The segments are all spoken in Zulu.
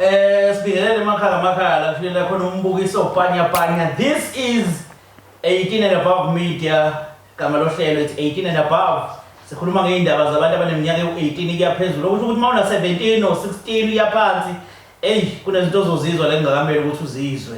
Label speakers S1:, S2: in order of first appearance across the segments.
S1: Eh sibingelele emakhaya amakhaya la kushile khona umbukiso panya panya. This is 18 and above media gama lohlelo it's 18 and above. Sikhuluma ngeindaba zabantu abaneminyaka ewu-18 kuya phezulu. Okusho ukuthi uma una 17 or 16 uya phansi, eyi kunezinto ozozizwa la engakameli ukuthi uzizwe.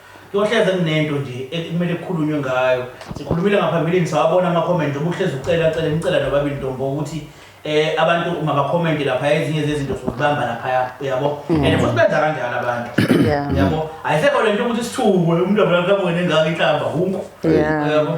S1: Kuyohleze kunento nje ekumele kukhulunywe ngayo. Sikhulumile ngaphambilini sawabona ama comment obuhleze ucela cela nicela nobabili ntombo ukuthi eh abantu uma ba comment lapha ezinye zezinto sokubamba lapha uyabo. Mm. And futhi benza kanjalo abantu. Yeah. Uyabo? Ayisekho lento ukuthi sithukwe umuntu abona kamuke nengaka inhlamba hunku. Yeah. Uyabo?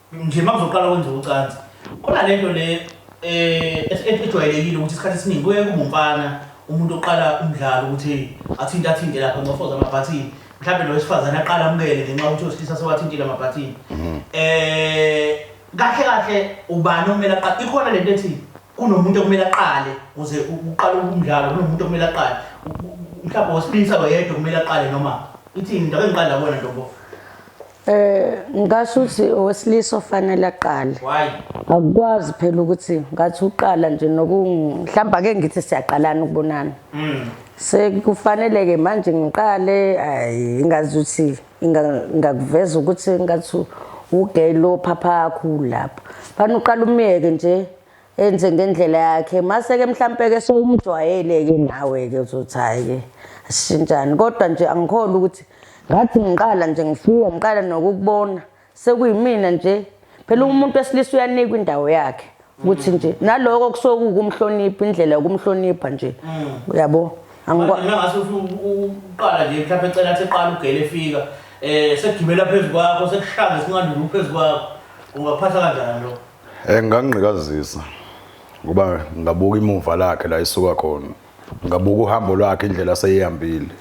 S1: Nje makuzoqala kwenza ucansi khona lento le eh ejwayelekile ukuthi isikhathi esiningi kuye kube umfana umuntu oqala umdlalo ukuthi athinte athinte lapha ngofoza amabhathini mhlawumbe lo wesifazane aqala amukele ngenxa ukuthi osilisa sewathintile amabhathini mhm. eh kahle kahle ubani okumele aqale ikhona lento ethi kunomuntu okumele aqale uze uqale umdlalo kunomuntu okumele aqale mhlawumbe osilisa wayedwa okumele aqale noma ithini into engiqala bona ntombo Eh ngasho
S2: ukuthi owesilisa ofanele aqale. Why?
S1: Akukwazi phela
S2: ukuthi ngathi uqala nje nokumhlamba ke ngithi siyaqalana ukubonana. Mm. Sekufanele ke manje ngiqale ayi ngazi ukuthi ngakuveza ukuthi ngathi ugay lo phapha yakho lapha. Fana uqala umyeke nje enze ngendlela yakhe mase-ke mhlampe-ke sowumjwayele-ke nawe-ke uzothi hhayi-ke asishintshani kodwa nje angikhole ukuthi ngathi ngiqala nje ngifika ngiqala nokukubona sekuyimina nje phela umuntu wesilisa uyanikwa indawo yakhe ukuthi nje naloko kusuke kukumhlonipha indlela yokumhlonipha nje mm. uyabo angikwazi
S1: uqala nje mhlawumbe ecela athi eqala ugele efika eh sekugibela phezu kwakho sekushaya ngesinqandulu phezu kwakho ungaphatha kanjani lokho Eh ngangqikazisa
S3: ngoba ngabuka imuva lakhe la isuka khona. Ngabuka uhambo lwakhe indlela aseyihambile.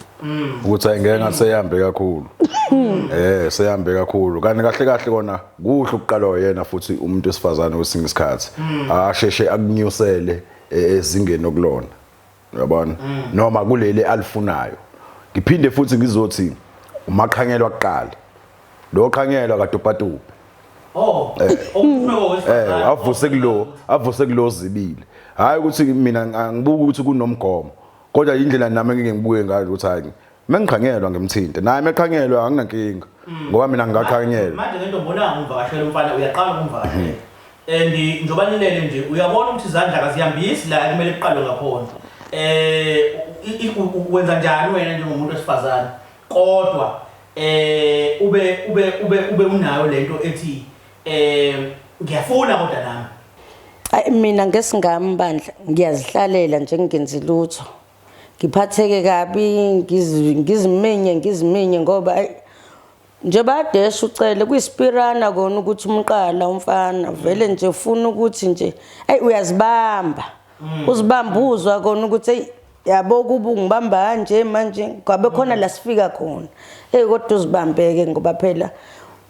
S3: Ukuthi ayengeke ngasehambe kakhulu. Eh sehambe kakhulu. Kanti kahle kahle kona kuhle ukuqalwa yena futhi umuntu wesifazane wesinye isikhathi. Asheshe akunyusele e- ezingeni okulona. uyabona mm. noma kuleli alifunayo ngiphinde futhi ngizothi umaqhanyelwa kuqala lo qhanyelwa kadupatupa Oh, eh. eh, avuse kulo, avuse kulo zibili. Hayi ukuthi mina ngibuka ukuthi kunomgomo. Kodwa indlela nami engike ngibuke ngayo ukuthi hayi Mengiqhanyelwa ngimthinte. Naye meqhanyelwa anginankinga. Mm. Ngoba mina ngingaqhanyelwa. Manje ngento ngibona
S1: ngumvakashela umfana uyaqala ukumvakashela. Mm-hmm. And eh, njoba nilele nje uyabona ukuthi izandla kazihambisi la kumele kuqalwe ngakhona. Eh wenza njani wena njengomuntu wesifazane? Kodwa eh ube ube ube ube unayo lento ethi eh ngiyafuna kodwa nami. Ayi mina
S2: ngesingami bandla ngiyazihlalela nje ngingenzi lutho. ngiphatheke kabi ngiziminye ngiziminye ngoba nje badesha ucele kuyisipirana kona ukuthi umqala umfana vele nje ufuna ukuthi nje eyi uyazibamba mm. uzibamba uzwa kona ukuthi eyi yabo kuba ungibamba kanje manje kwabe khona mm. la sifika khona eyi kodwa uzibambeke ngoba phela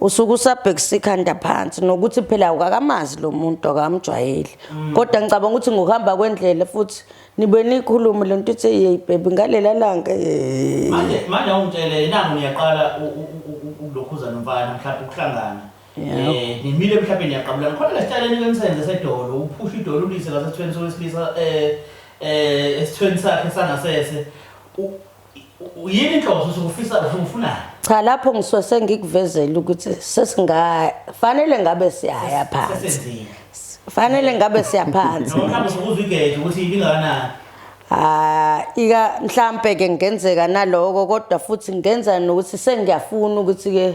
S2: usuke usabhekisa ikhanda phansi nokuthi phela awukakamazi lo muntu akamjwayeli mm. kodwa ngicabanga ukuthi ngokuhamba kwendlela futhi Nibe nikhulume le nto ithi yeyi bhebhi ngalela langa yeyi. manje manje
S1: awungitshele nangu niyaqala u- u- u- u- ukulokhuza nomfana mhlawumbe ukuhlangana Yeah. Eh, nimile mhlawumbe niyaqabulana khona lesitshaleni ke nisenze sedolo uphusha idolo ulise ngasesithweni sowesilisa eh eh esithweni sakhe sangasese U- Yini inhloso usukufisa usufunani? Cha lapho
S2: ngisuke sengikuvezela ukuthi sesingafanele ngabe siyaya phansi. Fanele ngabe siyaphansi. Noma mhlawumbe usukuza igede
S1: ukuthi ibingakanani.
S2: Ah ika mhlambe ke ngenzeka naloko kodwa futhi ngenza nokuthi sengiyafuna ukuthi ke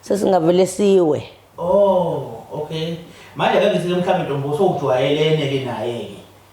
S2: sesingavele siwe. Oh
S1: okay. Manje ke ngithi mhlawumbe ntombo usujwayelene ke naye ke.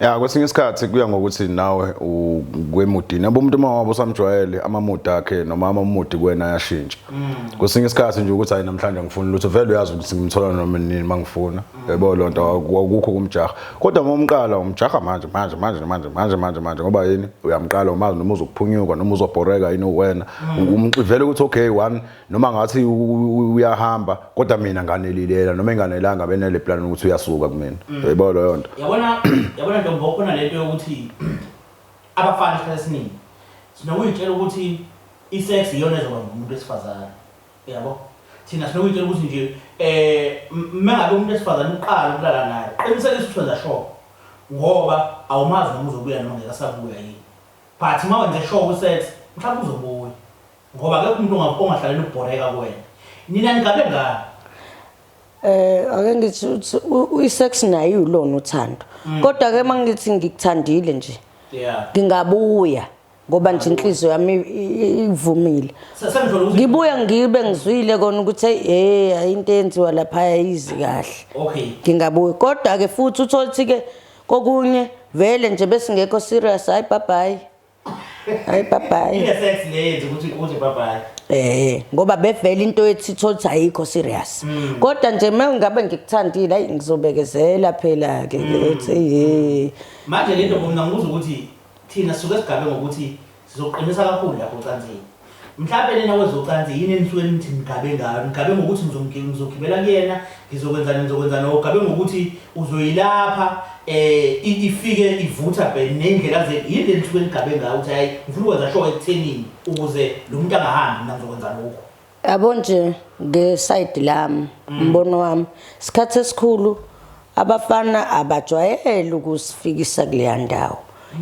S1: Ya
S3: kwesinye isikhathi kuya ngokuthi nawe ukwemudi nabo umuntu uma wabo usamjwayele amamudi akhe noma amamudi kwena ayashintsha. Mm. Kwesinye isikhathi nje ukuthi hayi namhlanje ngifuna lutho vele uyazi ukuthi ngimthola noma nini mangifuna. Mm. Yebo lonto akukho kumjaha. Kodwa uma umqala umjaha manje manje manje manje manje manje manje ngoba yini uyamqala umazi noma uzokuphunyuka noma uzobhoreka yini uwena. Mm. Umxivele ukuthi okay one noma ngathi uyahamba kodwa mina nganelilela noma enganelanga benele plan ukuthi uyasuka kumina mm. yebo leyo nto yabona yabona ntombo
S1: khona lento yokuthi abafana isikhathi esiningi sinokuyitshela ukuthi isex iyona ezoba ngumuntu esifazane yabo thina sinokuyitshela ukuthi nje eh mengabe umuntu esifazane uqala ukulala naye qinisekisa ukuthi wenza sure ngoba awumazi noma uzobuya noma ngeke asabuya yini but uma wenze sure usex mhlawumbe uzobuya Ngoba akekho umuntu onga- ongahlalela ukubhoreka
S2: kuwena. Nina ningabe ngani? Eh ake ngithi uthi u- uyisex naye iwulona uthando. Kodwa ke mangithi ngikuthandile nje. Yeah. Ngingabuya ngoba nje inhliziyo yami i- i- ivumile. Se- Sengithola ukuthi Ngibuya ngibe ngizwile kona ukuthi hey hey ayinto enziwa lapha ayizi kahle. Okay. Ngingabuya
S1: kodwa
S2: ke futhi utholithi ke kokunye vele nje besingekho serious hayi bye bye. Hayi babayi. Ile sex le
S1: yenza ukuthi uze babayi. Eh ngoba bevela
S2: into ethi thothi ayikho serious. Hmm. Kodwa nje mengabe ngikuthandile ayi ngizobekezela phela ke hmm. ethi hey. Manje lento
S1: mina ngikuzwa ukuthi thina suke sigabe ngokuthi sizoqinisa kakhulu lapho ucansini. Mhlampe nina kwezocansi yini enisuke nithi nigabe ngayo? Nigabe ngokuthi ngizomgi- ngizogibela kuyena, ngizokwenzani, ngizokwenzani, or ugabe ngokuthi uzoyilapha eh, i- ifike ivutha bhe ney'ndlela zenu. Yini le enisuke nigabe ngayo ukuthi hhayi ngifuna ukwenza sure ekuthenini ukuze lo muntu angahambi mina ngizokwenza lokhu? Yabo nje
S2: ngesayidi lami umbono wami isikhathi esikhulu Abafana abajwayele ukusifikisa kuleya ndawo.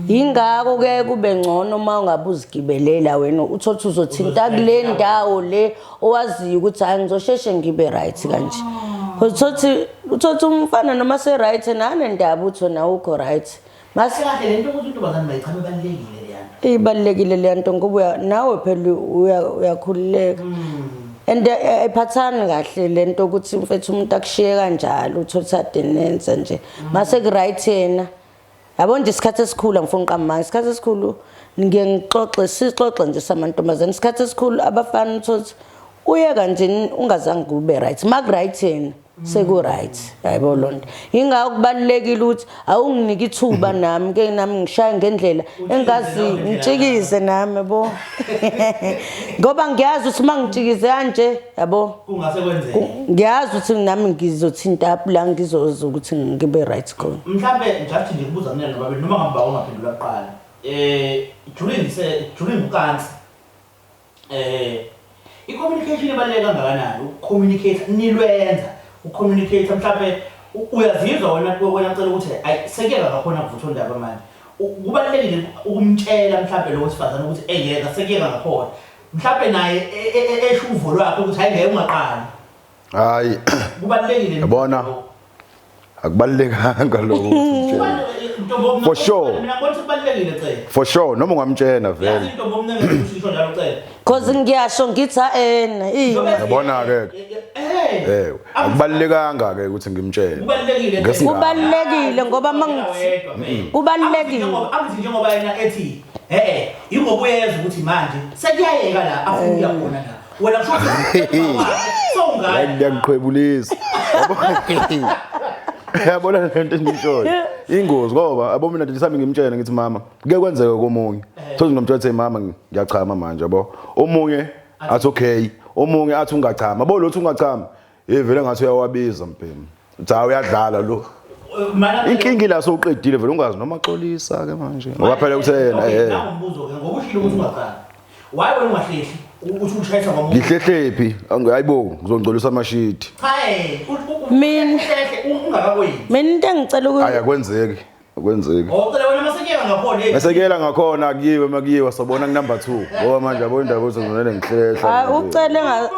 S2: Yingakho ke kube ngcono uma ungabe uzigibelela wena uthothi uzothinta kule ndawo le owaziyo ukuthi hayi ngizosheshe ngibe right kanje. Uthothi uthothi umfana noma se right nane ndaba utho nawe ukho right. Ngase kahle lento
S1: ukuthi intombazane mayichame balekile leyanto.
S2: Ibalekile leyanto ngoba nawe phela uyakhululeka. Mm. and ayiphathani eh, eh, kahle lento ukuthi mfethu umuntu akushiye kanjalo uthotha denenza nje mase kuright yena yabo nje isikhathi esikhulu angifuni uqamanga isikhathi esikhulu ngiye ngixoxe sixoxe nje samantombazane isikhathi esikhulu abafana uthothi uye kanjeni ungazange kube right makuright yena sekuright hayibo lonto ingakho kubalulekile ukuthi awunginike ithuba mhm. nami ke nami ngishaye ngendlela engazi ngitshikize nami bo ngoba ngiyazi ukuthi mangitshikize kanje yabo kungase kwenzeke
S1: ngiyazi ukuthi
S2: nami ngizothinta up la ngizoza ukuthi ngibe right khona mhlambe ngijathi nje
S1: kubuza mina nobabe noma ngamba ongaphendula kuqala eh during se during ukansi Eh i communication ibaluleke kangakanani u communicate nilwenza u communicate mhlawumbe uyazizwa wena wena cela ukuthi ay sekuyeka ngakhona kuvutha undaba manje kubalekile ukumtshela mhlawumbe lo wesifazane ukuthi engeke sekuyeka ngakhona mhlawumbe naye e, e, e, esho uvo lwakhe ukuthi hayi ngeke ungaqali hayi
S3: kubalekile
S1: yabona
S3: akubalekanga lokho for sure
S1: for sure noma ungamtshena
S3: vele
S1: cause ngiyasho
S2: ngithi en yabona ke
S3: eh akubalekanga ke ukuthi ngimtshene kubalekile
S2: ngoba mangithi kubalekile akuthi njengoba yena
S1: ethi eh ingoba uyeza ukuthi manje sekuyayeka la afuna khona la wena kusho ngiyakuqhwebulisa
S3: yabona lento endiyishoyo ingozi ngoba abo mina ndisami ngimtshene ngithi mama kuke kwenzeka komunye thozi nomtshela ukuthi mama ngiyachama manje yabo omunye athi okay omunye athi ungachama bo lothi ungachama Hey vele ngathi uyawabiza mbhemu. Cha uyadlala lo. Inkinga ila sowuqedile vele ungazi noma xolisa ke manje. Ngoba phela uthe yena eh. Ngombuzo ke ngoba ushilo ukuthi
S1: ungazali. Why wena ungahlehli? Ukuthi ushayisa ngomuntu. Ngihlehlephi?
S3: Hayibo ngizongcolisa amashidi. Cha eh.
S2: Mina
S1: ungakakoyini. Mina into engicela
S2: ukuthi Ayakwenzeki.
S3: akwenzeki Oh, cela wena
S1: masekela ngakhona. eh. esekela ngakhona
S3: kuyiwe makuyiwa sobona kunumber 2 ngoba manje yabo indaba uzongonele ngihlehla
S2: Hayi
S3: ucele nga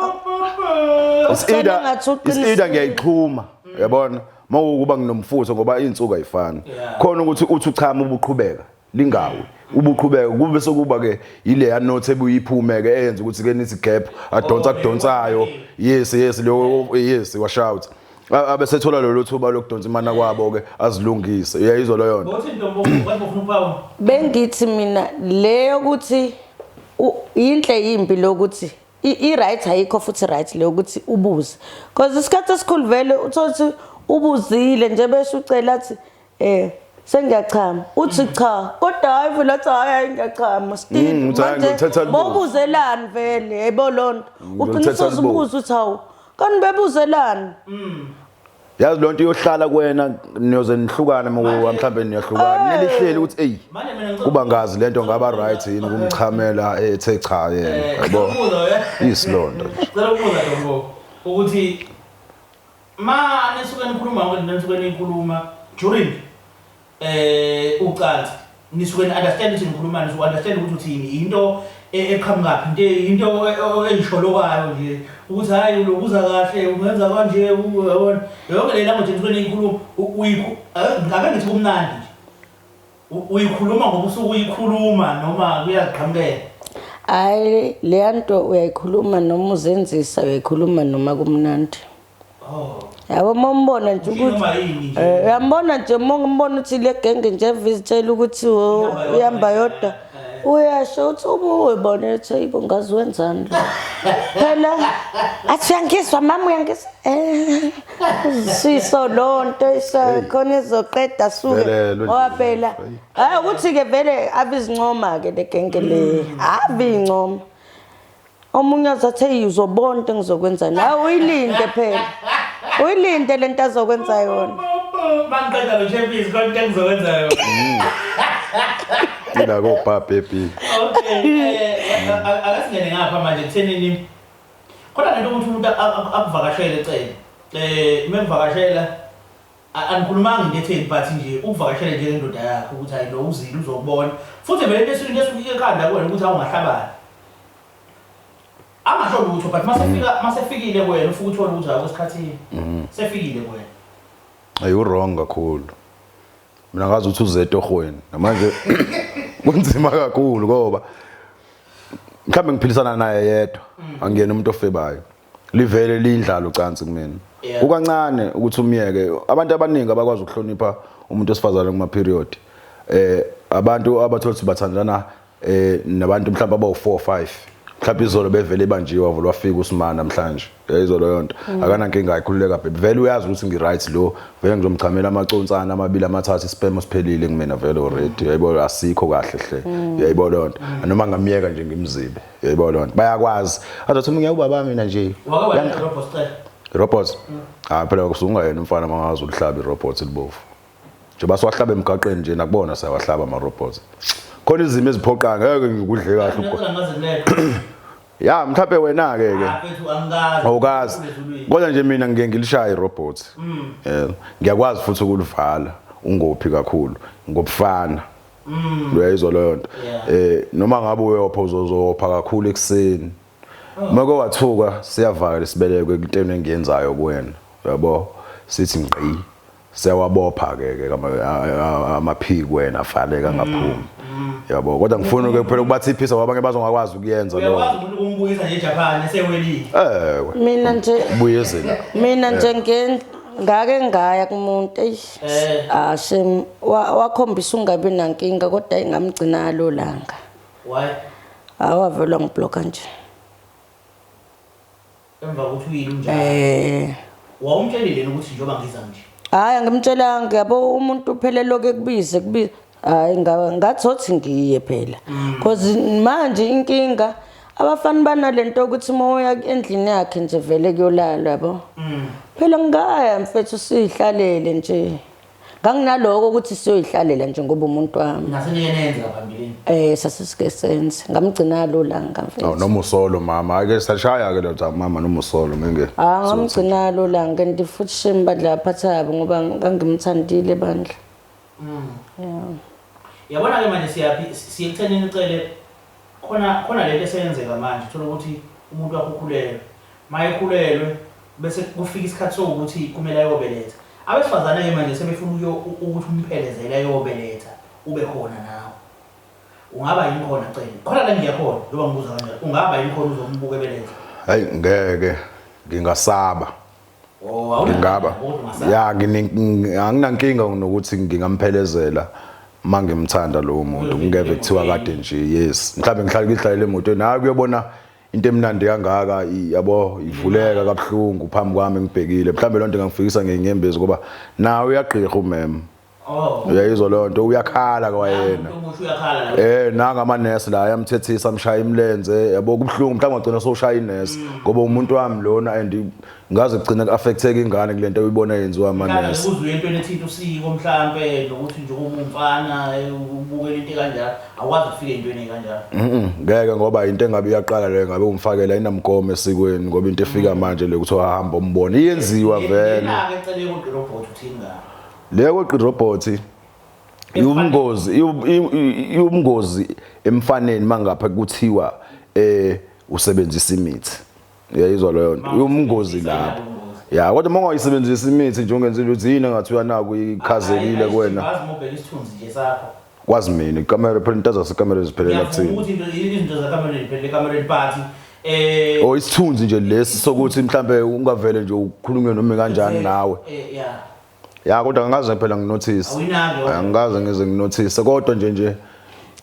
S3: It's Ucele either- ngathi it's uqinisile. either ngiyayixhuma yabona mawukuba nginomfutho ngoba insuku ayifani Yeah. khona ukuthi uthi uchama ubuqhubeka lingawi ubuqhubeka kube sokuba ke ile ya note ebuyiphume ke eyenza ukuthi ke nithi gap adonsa kudonsayo yes yes lo yes wa shout abesethola lolu thuba lokudonsa imana kwabo ke azilungise uyayizwa leyo nto
S1: bengithi mina
S2: leyo ukuthi yinhle yimbi lokuthi i-right ayikho futhi right leyo ukuthi ubuze because isikhathi esikhulu vele uthole ukuthi ubuzile nje besho ucela athi Eh sengiyachama uthi mm. cha kodwa hayi vele athi hayi hayi ngiyachama still mm, manje bobuzelani vele yebo lonto mm, uqinisa uzibuza uthi hawu kanti bebuzelani
S3: yazi lonto iyohlala kuwena niyoze nihlukane mhlawumbe niyahlukana nelihleli ukuthi eyi kuba ngazi lento ngaba right yini kumchamela ethe cha yena eh, yabo isilonto cela
S1: ukubuza ukuthi Ma nisuke nikhuluma yonke lento enisuke niyikhuluma during eh ucansi nisuke ni understand ukuthi nikhuluma nisuke understand ukuthi uthini into e- eqhamukaphi into e- into e- e- engisholokayo nje ukuthi hayi ulokuza kahle ungenza kanje u- yabona yonke le language enisuke niyikhuluma u- uyikhu- ake ake ngithi kumnandi nje Uyikhuluma ngoba usuke uyikhuluma noma kuyagqamukela? Hayi
S2: leya nto uyayikhuluma noma uzenzisa uyayikhuluma noma kumnandi. Oh. Yabo uma umbona nje ukuthi eh, uyambona nje uma umbona ukuthi le genge nje evizitshela ukuthi uyamba yodwa. uyasho uthi ubuwe bona ethi ayibo ngazi wenzani lo phela athi uyangizwa mama uyangizwa eh siso lonto isakhona izoqeda suke ngoba phela hayi ukuthi-ke vele abizincoma-ke le genge le ave incoma omunye azathi eyi uzobona into engizokwenzani hayi uyilinde phela uyilinde le nto azokwenza yona mangiqeda
S1: lo shepisi kodwa into engizokwenza yona
S3: ila kobhabha ebhini okay eh,
S1: eh, eh, akasingene ngapha manje kuthenini Khona lento ukuthi umuntu akuvakashele cele eh uma kuvakashela angikhulumanga into etheni but nje ukuvakashela nje lendoda yakho ukuthi hayi lo uzile uzokubona futhi vele into esuke into esuke ekhanda kuwena ukuthi awungahlabani angasho lutho but masefika masefikile kuwena ufuthi uthole ukuthi hayi kwesikhathini sefikile kuwena ayi
S3: wrong kakhulu mina ngazi ukuthi uze etohweni namanje kunzima kakhulu ngoba mhlawumbe ngiphilisana naye yedwa mm. angiyena umuntu ofebayo livele lindlalo cansi kumina ukancane ukuthi umyeke abantu abaningi abakwazi ukuhlonipha umuntu osifazane kuma period eh abantu abathola ukuthi bathandana eh nabantu mhlawumbe abawu 4 5 mhlawumbe izolo bevele ibanjiwe wavula wafika usimana namhlanje eh, izolo yonto mm. akanankinga ayikhululeka bhebhe vele uyazi ukuthi ngiright lo vele ngizomchamela amaconsana amabili amathathu isipemo siphelile kumina vele already yayibona asikho kahle hle mm. yayibona lonto mm. noma ngamyeka nje ngimzibe yayibona lonto bayakwazi azothi umunye ubaba mina nje robot hayi phela kusungayena umfana mangazi ulihlabi robot libovu njengoba siwahlaba emgaqweni nje nakubona siyawahlaba ama-robots khona izimo eziphoqayo ngeke ngikudle kahle ukho ya mhlawumbe wena-ke ke ah, awukazi kodwa nje mina ngike ngilishaya i-robot mm. eh, ngiyakwazi futhi ukulivala ungophi kakhulu ngobufana mm. uyayizwa leyo nto um noma ngabe uyopha uzozopha kakhulu ekuseni Mako wathuka siyavaka lesibeleko ekuteni engiyenzayo kuwena. Yabo sithi ngqi siyawabopha ke ke amaphiki wena afanele angaphumi. Mm. Yabo kodwa ngifuna ke kuphela ukubathi iphisa ngoba abanye bazongakwazi ukuyenza lokho. Uyakwazi umuntu ukumbuyisa nje
S1: Japan esewelile. Eh. Mina nje buyezela.
S2: Mina nje eh. ngen ngake ngaya kumuntu eish eh. ah shem wakhombisa ungabi nankinga kodwa ingamgcina lo langa
S1: Why? Hayi wavele
S2: wangibloka nje. Emva
S1: kokuthi uyini unjani? Eh. Wawumtshelile ukuthi njengoba ngiza nje. Hayi angimtshelanga
S2: yabo umuntu phela loke kubize kubize. Hayi ngathothi ngiye phela. Mm. Cause manje inkinga abafana banalento ukuthi uma uya endlini yakhe nje vele kuyolalwa yabo. Mm. Phela ngikaya mfethu sihlalele nje. nganginaloko ukuthi siyoyihlalela nje ngoba umuntu wami nasenenza
S1: phambilini eh sasisike senze
S2: ngamgcina lula ngamfethu oh noma usolo mama
S3: ake sashaya ke lo cha mama noma usolo ngeke ah ngamgcina lula
S2: ngenti futhi shame badla phathabo ngoba ngangimthandile bandla mm yeah
S1: yabona ke manje siyaphi siyekuthenini ucele Khona khona lento eseyenzeka manje uthola ukuthi umuntu wakho ukhulelwe mayekhulelwe bese kufika isikhathi sokuthi kumele ayobeletha abesifazane ke manje sebefuna ukuyo ukuthi umphelezele ayobeletha ube khona nawe ungaba yini khona cela khona la ngiyakhona njengoba ngibuza kanjalo ungaba yini khona uzombuka ebeletha hayi ngeke
S3: ngingasaba
S1: ngaba
S3: ya anginankinga nokuthi ngingamphelezela mangimthanda lowo muntu ngingeve kuthiwa kade nje yes mhlawumbe ngihlale ngihlalele emotweni hayi kuyobona into emnandi kangaka yabo ivuleka kabuhlungu phambi kwami ngibhekile mhlawumbe loo nto ingangifikisa ngenyembezi ngoba nawe uyagqirha umema Oh. Uyayizwa leyo nto uyakhala kwayena. Eh nanga ama nurse la ayamthethisa amshaya imlenze yabo kubhlungu mhlawumbe agcina soshaya inurse mm. ngoba umuntu wami lona and ngaze kugcina kuaffecteka ingane kule nto uyibona yenziwa ama nurse. Uzwe into ethinta
S1: usiko mhlambe nokuthi nje umfana eh, ubukela into kanjalo awazi ufike into ene kanjalo. Mhm ngeke ngoba into
S3: engabe iyaqala leyo ngabe umfakela inamgomo esikweni ngoba into efika mm. manje le kuthi uhamba umbone iyenziwa vele. Ngeke cele kodwa
S1: robot uthini ngayo. Leyo kweqa
S3: irobhothi iwubungozi iwubungozi emfaneni mangapha kuthiwa eh usebenzisa imithi uyayizwa leyo nto iwubungozi lapho ya kodwa uma ungayisebenzisi imithi nje ungenza ukuthi yini engathi uyanaku ikhazekile kuwena
S1: kwazi mina
S3: ikamera phela into zasekamera ziphelela kuthini ukuthi izinto
S1: zakamereni phela ekamereni phathi eh o oh,
S3: isithunzi nje lesi sokuthi mhlambe ungavele nje ukhulunywe noma kanjani nawe eh, ya kodwa angikaze phela nginothise Awuyinalo. angikaze ngize nginothise kodwa nje nje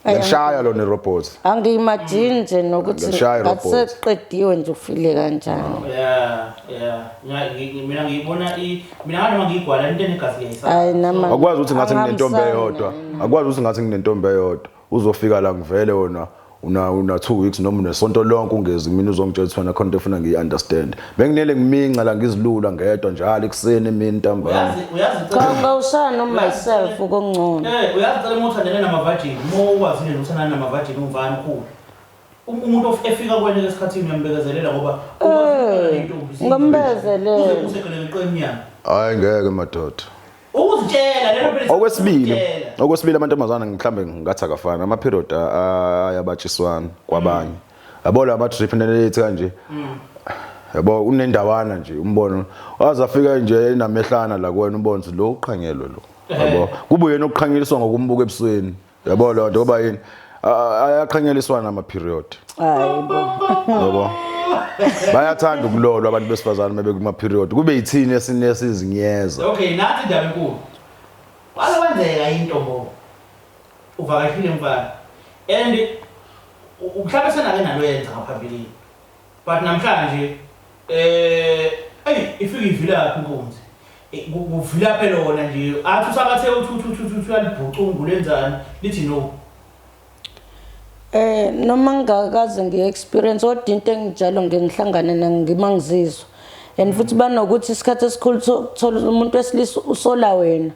S3: Ay, ngishaya lona irobot angiyimajini nje
S2: nokuthi Ngiyashaya irobhothi. ngaseqediwe nje ufile kanjani Yeah, yeah. Mina- ngi-
S1: ngi- Mina ngiyibona i mina nganoma ngiyigwala into enegazi liyayisaba. hayi nama akwazi
S2: ukuthi ngathi nginentombi
S3: angihambisani eyodwa naye. akwazi ukuthi ngathi nginentombi eyodwa Uzofika la ngivele wona una una 2 weeks noma unesonto lonke ungezi mina uzongitshela ukuthi wena khona efuna ngiyi understand benginele ngiminca la ngizilula ngedwa njalo ekuseni emini ntambama Khomba
S2: usana no myself ukungcono. Eh uyazicela uma uthandene
S1: namavajini uma ukwazi nje uthandana namavajini ungubani ukhulu Um- umuntu of- efika kwena esikhathini uyambekezelela ngoba ukwazi Eh, ukuhlala nentombi, siyintombi. ngambekezelela.
S2: Uze usegeleke
S1: qemnyama hayi ngeke
S3: madoda Ukuzitshela
S1: lelo phela. Okwesibili, okwesibili amantombazana
S3: mhlambe ngathi akafana ama period ayabatshiswana kwabanye. Mm. Yabo la ma trip nelethi kanje. Mm. Yabo unendawana nje umbono. Wazafika nje enamehlana la kuwena umbono lo uqhanyelwe lo. Yabo eh. kubuye nokuqhanyeliswa ngokumbuka ebusweni. yabo lo nto kuba yini ayaqhanyeliswana ama period hayibo yabo bayathanda ukulolwa abantu besifazane uma bekuma period kube yithini esinesinzinyeza okay nathi indaba
S1: enkulu wala kwenzeka into bo uvakashile mfana and mhlawumbe senake nalo yenza ngaphambilini But namhlanje eh ey ifika ivilaphi inkunzi. Eh, ku- Kuvilaphe lona nje. Athi usabathe uthi uthi uthi uthi uthi uyalibhucungu lenzani lithi no. Eh
S2: noma ngingakaze ngiye experience kodwa into engijalo ngeke ngihlangane nayo ngima ngizizwa. And futhi banokuthi isikhathi esikhulu so- thola umuntu wesilisa usola wena.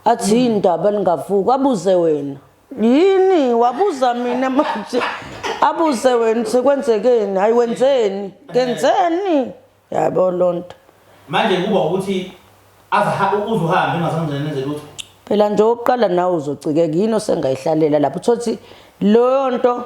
S2: Athi indaba lingavuka abuze wena. yini wabuza mina manje abuze wena sekwenzekeni hayi wenzeni ngenzeni yabo lonto manje kuba
S1: ukuthi azaha uzuhambe ungazangeneze lutho phela nje oqala
S2: nawe uzocikeka yini osengayihlalela lapho uthothi leyo nto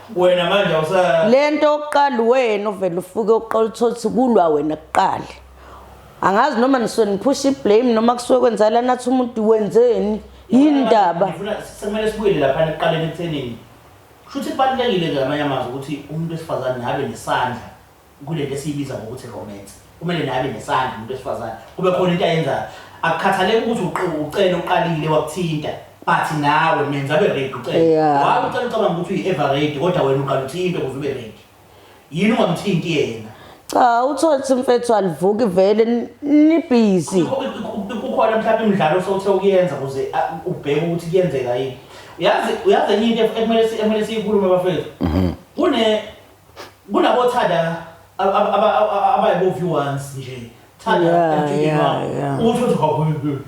S1: wena manje awusa lento yokuqala
S2: wena uvela ufuke uqola uthothi kulwa wena kuqala angazi noma nisuke niphusha iblame noma kusuke kwenzala nathi umuntu wenzeni yini ndaba ngifuna sekumele
S1: sibuyele lapha ekuqaleni ekuthenini kusho ukuthi kubalulekile ke ngamanye amazwi ukuthi umuntu wesifazane abe nesandla Kule nto esiyibiza ngokuthi romance, kumele naye abe nesandla umuntu wesifazane, kube khona into ayenzayo. Akukhathaleki ukuthi uqe- ucele uqalile wakuthinta, but nawe menza abe ready ucele. Yeah. Why ucela ucabanga ukuthi uyi-ever ready kodwa wena uqala uthintwe ukuze ube ready? Yini ungamthinti yena? Cha uthole
S2: ukuthi mfethu alivuki vele ni- nibhizi. Ku- ku- ku- ku- kukhona
S1: mhlawumbe imidlalo osowuthe ukuyenza ukuze a, ubheke ukuthi kuyenzeka yini uyazi uyazi enye into ekumele si- ekumele siyikhulume bafethu kune Kunabo thanda abayibo view once nje. Thanda Yeah, emjikeni yeah, wakho. yeah. Uthi uthi hawu,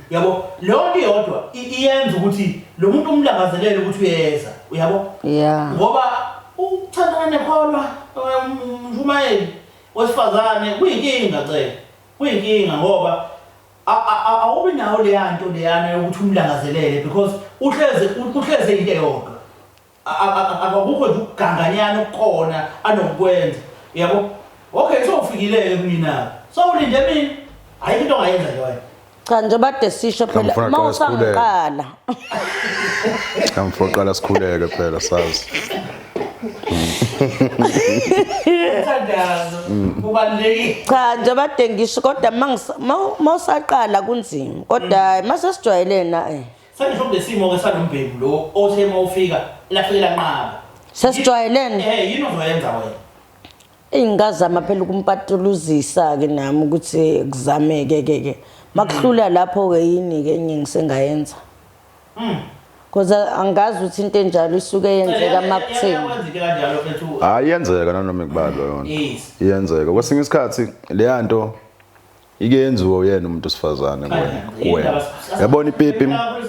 S1: yabo. Leyo nto iyodwa i- iyenza ukuthi lo muntu umlangazelele ukuthi uyeza. Uyabo? Yeah. Ngoba ukuthandana nekholwa umshumayeli wesifazane kuyinkinga cela. Kuyinkinga ngoba a- a- a- awubi nawo leya nto leyana yokuthi umlangazelele because uhleze uhleze into eyodwa. Akakukho nje ukuganganyana okukhona anokukwenza. Yabo? Okay, sowufikile-ke kumina-ke. Sowulinde mina? Ayikho into ongayenza nje wena. Cha nje bade
S2: sisho phela Ngifuna uma qala sikhuleke. usangiqala.
S3: Kamfo qala sikhuleke phela sazi. Umthandazo
S2: ubalulekile. Cha nje bade ngisho kodwa uma ngisa- uma- uma usaqala kunzima. Kodwa uma sesijwayelene na eh.
S1: Sengisho kulesimo-ke salombhemu lo othe uma ufika lahleke lanqaba.
S2: Sesijwayelene. Eh yini ozoyenza
S1: wena? Eyi
S2: ngazama phela ukumpatuluzisa-ke nami ukuthi kuzameke ke ke. Makuhlula lapho-ke yini-ke enye ngisengayenza. Mm. Cause angazi ukuthi into enjalo isuke yenzeka makuthini. Yenza into kanjalo mfethu.
S3: Hayi yenzeka nanoma ikubalo yona. Yes. Iyenzeka. Kwesinye isikhathi leya nto Ike yenziwe uyena umuntu osifazane kuwena. Yabona ipipi,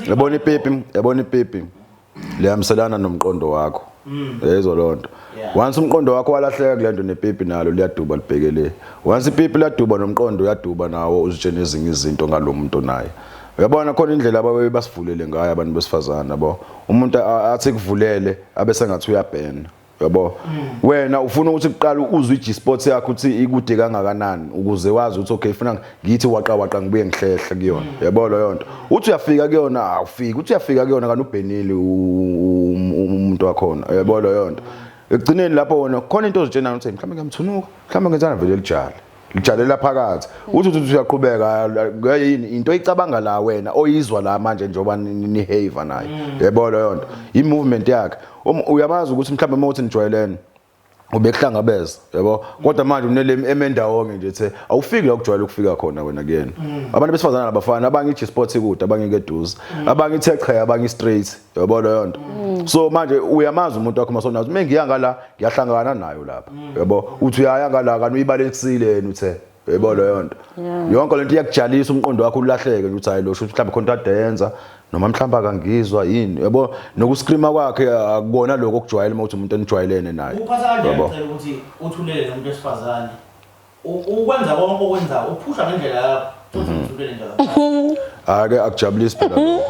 S3: yabona ipipi, yabona ipipi. Lihambiselana nomqondo wakho. Mm. Yezwa lonto. Once umqondo wakho walahleka kulento nepipi nalo liyaduba libhekele. Once ipipi laduba nomqondo uyaduba nawo uzitshena ezinye izinto ngalomuntu naye. Uyabona khona indlela ababe basivulele ngayo abantu besifazana bo. Umuntu athi kuvulele abe sengathi uyabhena. yabo wena ufuna ukuthi kuqala uzwe i-G-Sports yakho ukuthi ikude kangakanani ukuze wazi ukuthi okay funa ngithi waqa waqa ngibuye ngihlehle kuyona yabo leyo nto uthi uyafika kuyona awufiki uthi uyafika kuyona kanti ubhenile u- um- um- umuntu wakhona yabo leyo nto ekugcineni lapho wona khona into ozitshenayo ukuthi mhlawumbe ngiyamthunuka mhlawumbe ngenzana vele lijala lijalela phakathi uthi uthi uyaqhubeka ngeke yini into icabanga la wena oyizwa la manje njengoba nihave naye mm. yebo leyo nto i movement yakhe um, uyamazi ukuthi mhlawumbe uma uthi nijwayelene ubekuhlangabeza yabo kodwa manje unele emendawonke nje the awufiki la ukujwayela ukufika khona wena kuyena mm. abantu besifazana labafana abanye iGsports ikude abanye keduze mm. abanye ithe qha abanye straight yabo leyo nto mm. so manje uyamazi umuntu wakho masona uma ngiya ngala ngiyahlangana nayo lapha mm. yabo uthi uyaya ngala kanti uyibalekisile yena uthe yebo mm. leyo nto yonke lento iyakujalisa umqondo wakho ulahleke ukuthi hayi lo shuthi mhlawumbe khona into adenza noma mhlawumbe akangizwa yini yabo nokuscreama kwakhe akubona lokho okujwayele uma uthi umuntu enijwayelene naye yabo ukuthi
S1: uthulele nomuntu wesifazane Ukwenza konke okwenzayo uphusha ngendlela yakho. Uthulele nje kakhulu. Ake akujabulisi
S3: phela. lo.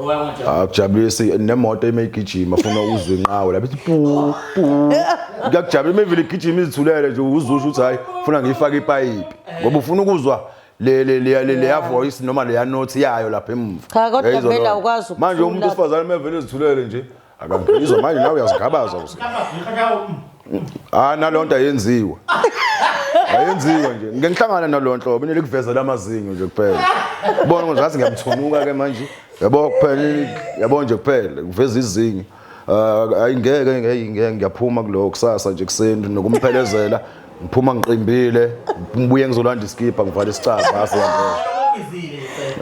S3: Uba ngajabula. Akujabulisi nemoto ime igijima funa uzwe inqawe lapho ithi pu pu. Ngiyakujabula uma ivile igijima izithulele nje uzwe usho ukuthi hayi funa ngiyifake ipayipi. Ngoba ufuna ukuzwa le le le le leya voice noma leya note yayo lapha emuva. Cha, kodwa Yayizwa vele lona.
S2: awukwazi Manje ukuthula. umuntu osifazane
S3: mevele ezithulele nje Akangizwa manje nawe uyazigabaza uze. Ah nalonto ayenziwa. Ayenziwa nje. Ngike ngihlangana nalonhlobo nile kuveza lamazinyo nje kuphela. Ubona ukuthi ngathi ngiyamthunuka ke manje. Yabo kuphela yabo nje kuphela kuveza izinyo. Ah, Ayingeke ngeke ngiyaphuma kulo kusasa nje kuseni nokumphelezela ngiphuma ngiqimbile ngibuye ngizolanda iskibha ngivale isicaba base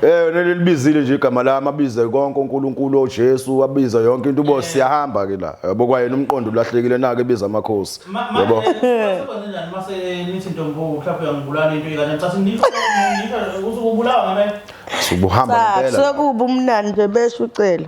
S3: Eh nelibizile nje igama lami abize konke uNkulunkulu oJesu abiza yonke into ubo siyahamba ke la yabo kwayena umqondo ulahlekile nake biza amakhosi yabo
S1: Sibonenjani mase nithi ntombo mhlawumbe uyangibulala into ikanje ngicatha ngisho ngisho ukuthi ubulawa ngame Subuhamba ngempela
S3: Sokuba umnandi nje
S2: besho ucela.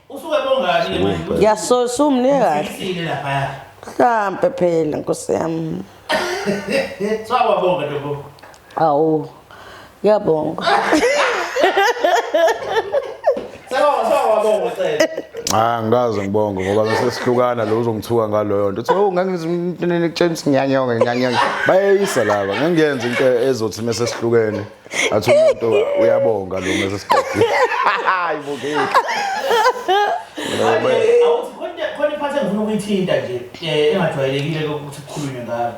S1: Usuke bongani manje? Ngiyasosa umnike
S2: kahle. Isile lapha
S1: ya. Mhlampe
S2: phela nkosi yami. Sawa bonga
S1: ntombo. Awu.
S2: Ngiyabonga.
S1: Sawa sawa bonga cela. Ah ngikaze ngibonge
S3: ngoba bese sihlukana lo uzongithuka ngaloyo nto. Uthi oh ngangizimntene ekutshela ukuthi ngiyanyonga ngiyanyonga. Bayeyisa laba ngengenza into ezothi mase sihlukene. athi umuntu uyabonga lo mase sibhekile hayi bukeki
S1: khona iphathi engifuna ukuyithinta nje eh, engajwayelekile ukuthi kukhulunywe ngayo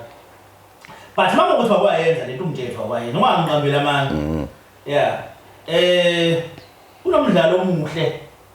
S1: but uma ngokuthi wakwayenza lento umjetho wakwayenza noma angiqambile amanga mm. yeah eh kunomdlalo omuhle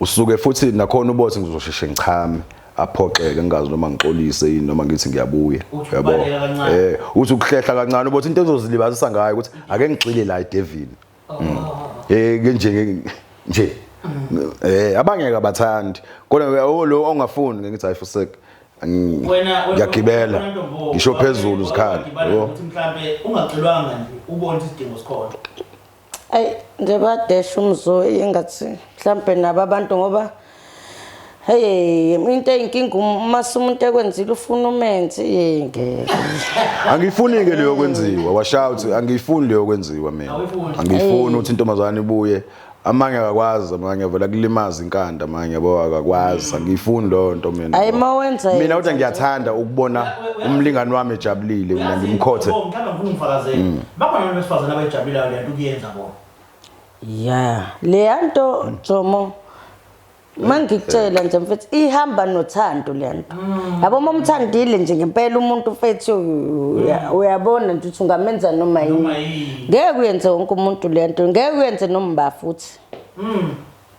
S3: usuke futhi nakhona ubothi ngizosheshe ngichame aphoxeke ngingazi noma ngixolise yini noma ngithi ngiyabuya yabo eh uthi ukuhlehla kancane ubothi into ezozilibazisa ngayo ukuthi ake ngixile la idevil oh. mm. eh nje nje mm. eh abangeke abathandi kodwa oh, lo ongafuni ngithi hayi fuseke ngiyagibela ngisho phezulu zikhala yabo mhlambe
S1: ungagxilwanga nje ubona isidingo sikhona ayi
S2: nje badesha umzoyi engathi mhlawumbe nabo abantu ngoba Hey, into eyinkinga uma umuntu ekwenzile ufuna umenzi hey ngeke. Angifuni
S3: ke leyo kwenziwa. Washaya uthi angifuni leyo kwenziwa mina. Angifuni uthi intombazane ibuye amanye akakwazi amanye avela kulimaza inkanda amanye yabo akakwazi angiyifuni leyo nto mina hayi uma wenza mina
S2: uthi ngiyathanda
S3: ukubona umlingani wami ejabulile mina ngimkhothe mhlawumbe
S1: ngifuna umfakazele mm. Bakhona abantu besifazane
S2: abayijabulayo le nto ukuyenza bona. Yeah, leya nto Jomo mangikutshela nje mfethu ihamba nothando le nto. Yabo uma umthandile nje ngempela umuntu mfethu uya- uyabona nje ukuthi ungamenza noma Noma yini. yini. Ngeke uyenze wonke umuntu le nto, ngeke uyenze nomba futhi. Mm.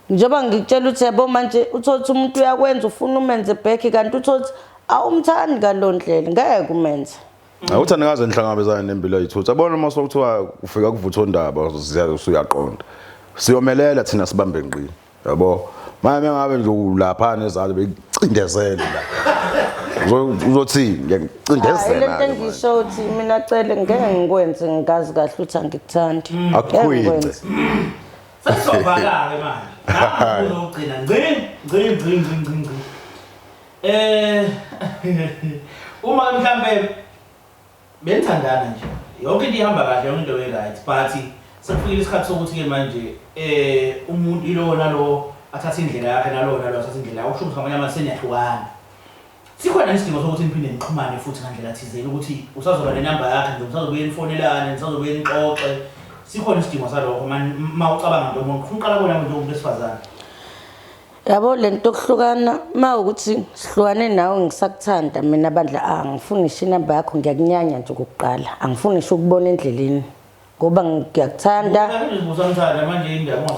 S2: njengoba ngikutshela ukuthi yabo manje uthole ukuthi umuntu uyakwenza ufuna umenze back kanti uthole ukuthi awumthandi ngaloo ndlela ngeke umenze Awuthi anikaze
S3: nihlangabezane nempilo yayithutha. Bona uma sokuthiwa ufika kuvutha ondaba usuyaqonda. Siyomelela thina sibambe ngqi. Yabo. Manje ngabe nje ulapha nezalo becindezele la. Uzothi ngiyacindezela. Lento engisho ukuthi
S2: mina cele ngeke ngikwenze ngikazi kahle uthi angikuthandi. Hmm. Akukhwinze. Sesizovala
S1: ke manje. Ngakho uzogcina ngci ngci ngci ngci ngci. Eh uma mhlambe benithandana nje. Yonke into ihamba kahle yonke into right but sekufikile isikhathi sokuthi ke manje eh umuntu ilowo nalowo athathe indlela yakhe nalowo nalowo athathe indlela yakhe usho ukuthi ngamanye amazwi seniyahlukana. Sikhona isidingo sokuthi niphinde nixhumane futhi ngandlela thizeni ukuthi usazoba nenamba yakhe nje usazobuye nifonelane nisazobuye nixoxe sikhona isidingo salokho mani uma ucabanga nto umuntu ufuna uqala bona nje umuntu wesifazane.
S2: yabo le nto yokuhlukana uma ukuthi sihlukane nawe ngisakuthanda mina bandla a ah, ngifuni ngisho inamba yakho ngiyakunyanya nje okokuqala angifuni ngisho ukubona endleleni ngoba ngiyakuthanda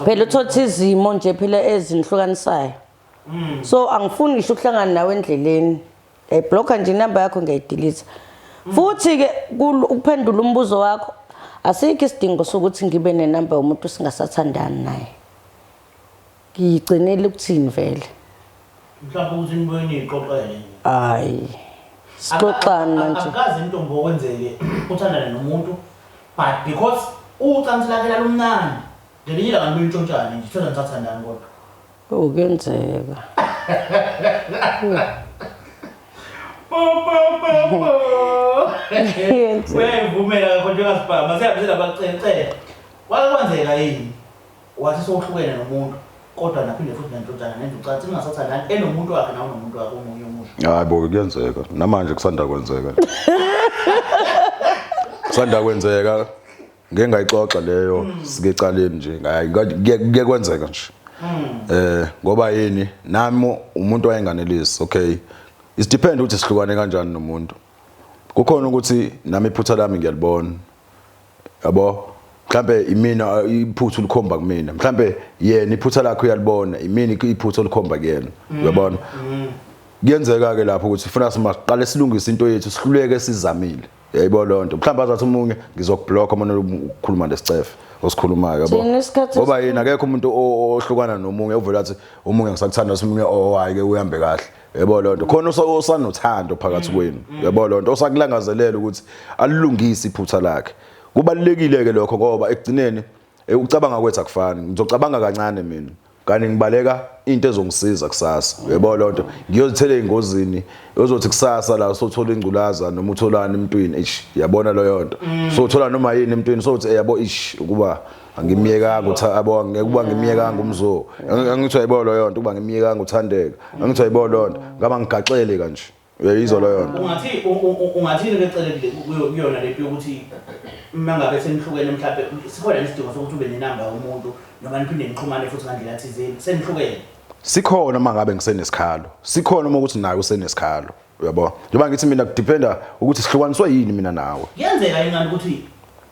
S2: phela uthotha izimo nje phela ezinihlukanisayo hmm. so angifuni ngisho ukuhlangana nawe endleleni ngiyayibhlokha nje inamba yakho ngiyayidilitha hmm. futhi-ke ukuphendula umbuzo wakho asikho isidingo sokuthi ngibe nenamba yomuntu singasathandani naye Ngiyigcinile ukuthini vele? Mhlawumbe
S1: ukuthi nibuye niyixoxele. Hayi.
S2: Sixoxani manje? Akukaze intombi okwenzeke
S1: uthandane nomuntu but because ucansi lakhe lalumnandi ngelinye ilanga nibuye nitshontshane nje thola nisathandani kodwa. Oh kuyenzeka.
S2: Uyayivumela
S1: kodwa njengasibhama siyabizela abacele cele. Wake kwenzeka yini? Wathi sewuhlukene nomuntu kodwa naphinde futhi nendodana nenza ucansi ningasathandani enomuntu wakhe nawe unomuntu
S3: wakhe omunye omusha. Hayi bo kuyenzeka. Namanje kusanda kwenzeka. Kusanda kwenzeka. Ngeke ngayixoxa leyo sike caleni nje. Hayi kuye kwenzeka nje. Eh ngoba yini nami umuntu wayenganelisi okay. It depend ukuthi sihlukane kanjani nomuntu. Kukhona ukuthi nami iphutha lami ngiyalibona. yabo mhlambe imina iphuthu likhomba kumina mhlambe yena iphutha lakhe uyalibona imini iphuthu likhomba kuyena mm. uyabona mm. kuyenzeka ke lapho ukuthi funa simaqale silungise into yethu sihluleke sizamile yayibo lonto mhlawumbe azathi umunye ngizokublock uma ukukhuluma lesicefe osikhulumayo yabo ngoba yena akekho umuntu ohlukana nomunye uvela athi umunye ngisakuthanda umunye owayi oh, ke uhambe kahle yebo loo nto khona osanothando phakathi mm, kwenu mm. yebo loo nto osakulangazelela ukuthi alilungise iphutha lakhe kubalulekile-ke lokho ngoba ekugcineni eh, ukucabanga kwethu akufani ngizocabanga kancane mina kanti ngibaleka into ezongisiza kusasa uyebo lonto ngiyozithela engozini ozothi kusasa la sothola ingculaza noma utholana emntwini ish yabona loyo nto mm. sothola noma yini emntwini sothi yabo ish ukuba angimyekanga utha abo ngeke uba ngimyekanga umzo angithiwa yibo loyo nto uba ngimyekanga uthandeka angithiwa yibo loyo nto ngaba ngigaxele kanje uyayizwa loyo nto ungathi ungathini
S1: kecelekile kuyona lento yokuthi uma ngabe senihlukene mhlawumbe sikhona nesidingo sokuthi ube nenamba yomuntu noma niphinde nixhumane futhi ngandlela thizeni senihlukene sikhona uma
S3: ngabe ngisenesikhalo sikhona uma ukuthi naye usenesikhalo uyabo njengoba ngithi mina kudependa ukuthi sihlukaniswe yini mina nawe kuyenzeka yini kanti ukuthi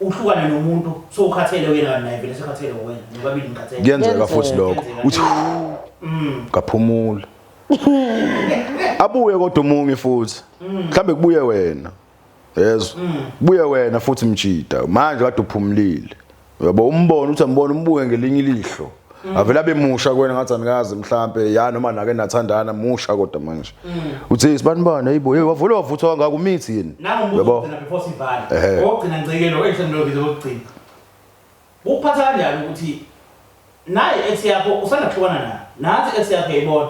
S1: uhlukane nomuntu so ukhathele wena kanti naye vele sekhathele wena nobabili ngikhathele kuyenzeka futhi lokho
S3: uthi mm. kaphumula abuye kodwa umungi futhi mhlambe kubuye wena yezwa buye wena futhi mjida manje kade uphumulile uyabo umbona uthi ambona umbuke ngelinye ilihlo Mm. avele abe musha kwena ngathi anikazi mhlambe ya noma nake nathandana musha kodwa manje mm. uthi sibanibani hayibo hey wavula wavuthwa kangaka umithi yini yabo before
S1: sivale ogcina ngcekelo ehlelo ngizo lokugcina ukuphatha kanjani ukuthi naye ex yakho usanda kuhlukana naye nathi ex yakho yayibona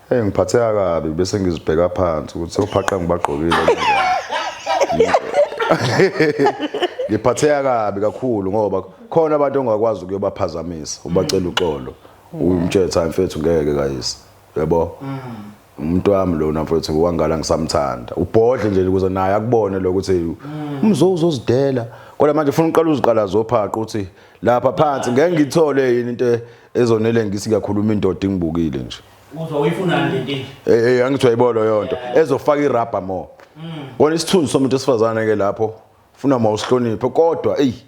S1: Hey ngiphatheka
S3: kabi bese ngizibheka phansi ukuthi sewuphaqa ngibagqokile. Ngiphatheka kabi kakhulu ngoba khona abantu ongakwazi ukuyobaphazamisa ubacela uxolo. Umtshela cha mfethu ngeke kayise. Yebo? Umuntu wami lona mfethu wangala ngisamthanda. Ubhodle nje ukuze naye akubone lokuthi umzo uzozidela. Kodwa manje ufuna uqala uziqala zophaqa uthi lapha phansi ngeke ngithole yini into ezonele ngisi ngiyakhuluma indoda ingibukile nje uzwa uyifunani
S1: le nkinga eh eh angithi
S3: uyayibona yonto ezofaka irubber more kona isithunzi somuntu esifazane ke lapho funa mawusihloniphe kodwa eyi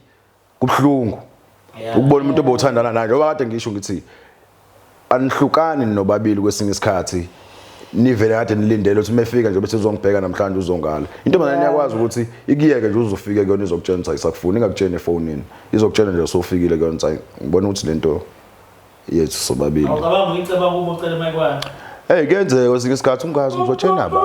S3: kubhlungu ukubona umuntu obothandana naye njengoba kade ngisho ngithi anihlukani nobabili kwesinye isikhathi nivele kade nilindele ukuthi mefika nje bese uzongibheka namhlanje uzongala into manje iyakwazi ukuthi ikuyeke nje uzofike kuyona izokutshena ukuthi ayisakufuni ingakutsheni efonini izokutshena nje usofike kuyona ukuthi ngibona ukuthi lento yethu sobabili awucabanga uyiceba kubo
S1: ucela mayikwana Hey kuyenzeka
S3: kwesinye isikhathi ungazi ngizotshena ba.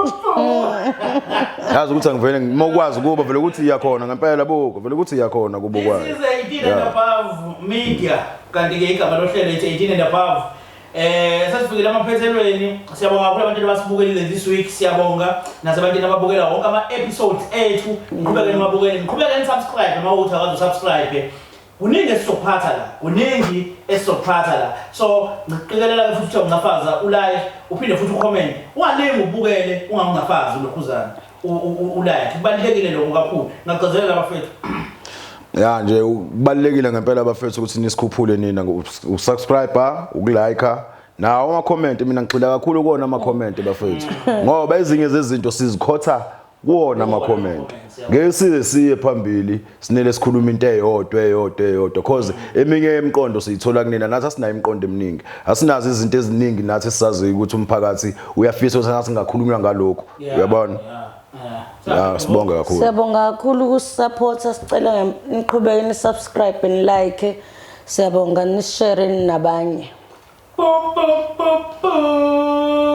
S3: Yazi ukuthi angivele ngimokwazi kuba vele ukuthi iyakhona ngempela buko vele ukuthi iyakhona kubo kwayo. This is a
S1: media. kanti-ke igama lohlelo ithi 18 and above Eh sesifikile amaphethelweni siyabonga kakhulu abantu abasibukelile this week siyabonga nasebantwini ababukela wonke ama episodes ethu ngiqhubeke nibabukele ngiqhubeke ni subscribe uma uthi akazi subscribe kuningi esizophatha la kuningi esizophatha la so ngiqikelela ukuthi uthe ungafaza ulike uphinde futhi ucomment ungalingi ubukele ungangafazi ulokhuzana ulayakhe kubalulekile lokho kakhulu ngagqezelela
S3: abafethu ya nje kubalulekile ngempela abafethu ukuthi nisikhuphule nina usubscriber ukulike nawo ama-comment mina ngigxila kakhulu kuwona ama-comment bafethu ngoba ezinye zezinto sizikhotha kuwona ama-comment ngeke size siye phambili sinele sikhuluma into eyodwa eyodwa eyodwa cause eminye yemiqondo siyithola kunina nathi asinayo imiqondo eminingi asinazo izinto eziningi nathi sisazi ukuthi umphakathi uyafisa ukuthi singakhulunywa ngalokho uyabona Yeah, sibonga kakhulu. Siyabonga kakhulu
S2: ukusupporta sicela niqhubeke ni subscribe ni like. Siyabonga ni share nabanye.